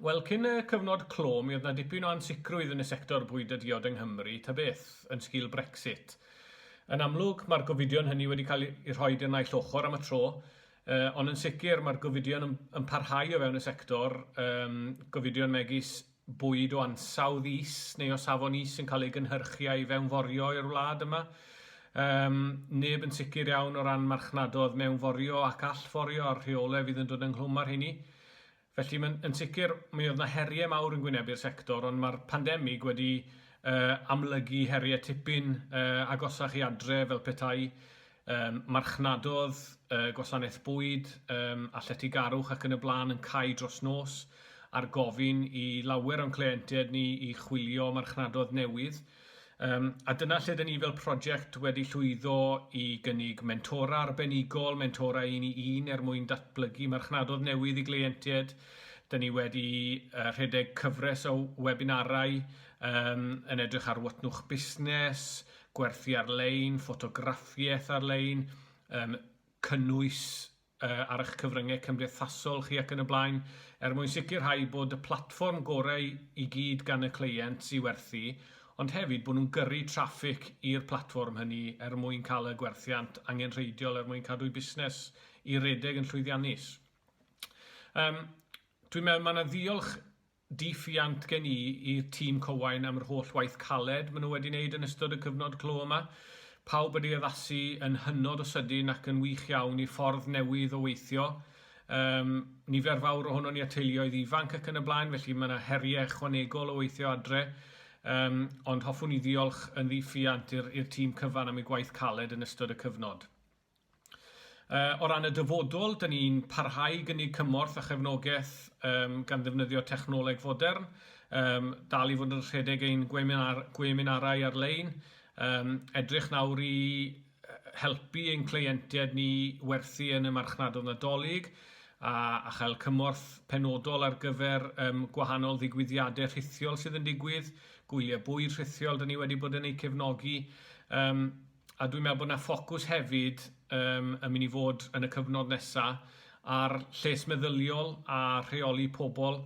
Wel, cyn y cyfnod clo, mi oedd yna dipyn o ansicrwydd yn y sector bwyd a diod yng Nghymru, ta beth, yn sgil Brexit. Yn amlwg, mae'r gofidion hynny wedi cael eu rhoi i'r naill ochr am y tro, ond yn sicr mae'r gofidion yn parhau o fewn y sector, gofidion megis bwyd o ansawdd is neu o safon is yn cael ei gynhyrchu a'i fewnforio i'r wlad yma. Yym, neb yn sicr iawn o ran marchnadodd mewnforio ac allforio a'r rheolau fydd yn dod ynghlwm â'r hynny. Felly, mae'n yn sicr, mi oedd yna heriau mawr yn gwynebu'r sector, ond mae'r pandemig wedi yy amlygu heriau tipyn yy agosach i adre fel petai Yym, marchnadodd, y gwasanaeth bwyd, yym, a lletygarwch ac yn y blaen yn cau dros nos, ar gofyn i lawer o'n cleientiaid ni i chwilio marchnadodd newydd. Yym, a dyna lle dyn ni fel prosiect wedi llwyddo i gynnig mentora arbenigol, mentora un i un er mwyn datblygu marchnadodd newydd i gleientiaid. Dyn ni wedi yy rhedeg cyfres o webinarau yym yn edrych ar watnwch busnes, gwerthu ar-lein, ffotograffiaeth ar-lein, um, cynnwys uh, ar eich cyfryngau cymdeithasol chi ac yn y blaen, er mwyn sicrhau bod y platfform gorau i gyd gan y cleient i werthu, ond hefyd bod nhw'n gyrru traffig i'r platfform hynny er mwyn cael y gwerthiant angenrheidiol er mwyn cadw'i busnes i redeg yn llwyddiannus. Um, Dwi'n meddwl mae yna ddiolch Diolchiant gen i i'r tîm Cywain am yr holl waith caled maen nhw wedi wneud yn ystod y cyfnod clo yma. Pawb wedi addasu yn hynod o sydyn ac yn wych iawn i'r ffordd newydd o weithio. Yym, nifer fawr ohonon ni â teuluoedd ifanc ac yn y blaen, felly mae yna heriau ychwanegol o weithio adre. Yym, ond hoffwn i ddiolch yn ddiolchiant i'r i'r tîm cyfan am eu gwaith caled yn ystod y cyfnod. Yy o ran y dyfodol, dyn ni'n parhau i gynnig cymorth a chefnogaeth yym gan ddefnyddio technoleg fodern, yym dal i fod yn rhedeg ein gweminar- gweminarau ar-lein, yym edrych nawr i yy helpu ein cleientiaid ni werthu yn y marchnadoedd Nadolig a a chael cymorth penodol ar gyfer yym gwahanol ddigwyddiadau rhithiol sydd yn digwydd, gwyliau bwyd rhithiol dyn ni wedi bod yn eu cefnogi, yym. A dwi'n meddwl bod 'na ffocws hefyd yym yn mynd i fod yn y cyfnod nesa ar lles meddyliol a rheoli pobl.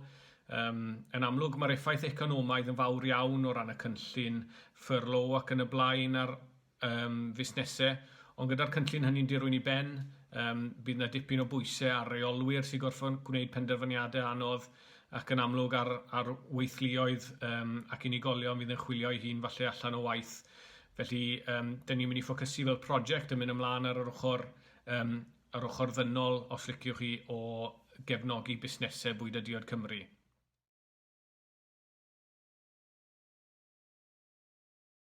Yym, yn amlwg mae'r effaith economaidd yn fawr iawn o ran y cynllun furlough ac yn y blaen ar yym fusnesau, ond gyda'r cynllun hynny'n dirwyn i ben, yym, bydd 'na dipyn o bwysau ar reolwyr sy'n gorfod gwneud penderfyniadau anodd ac yn amlwg ar ar weithluoedd yym ac unigolion fydd yn chwilio'i hun falle allan o waith. Felly, yym, dyn ni'n mynd i ffocysu fel prosiect yn mynd ymlaen ar yr ochr, yym, yr ochr ddynol, os liciwch chi, o gefnogi busnesau bwyd a diod Cymru.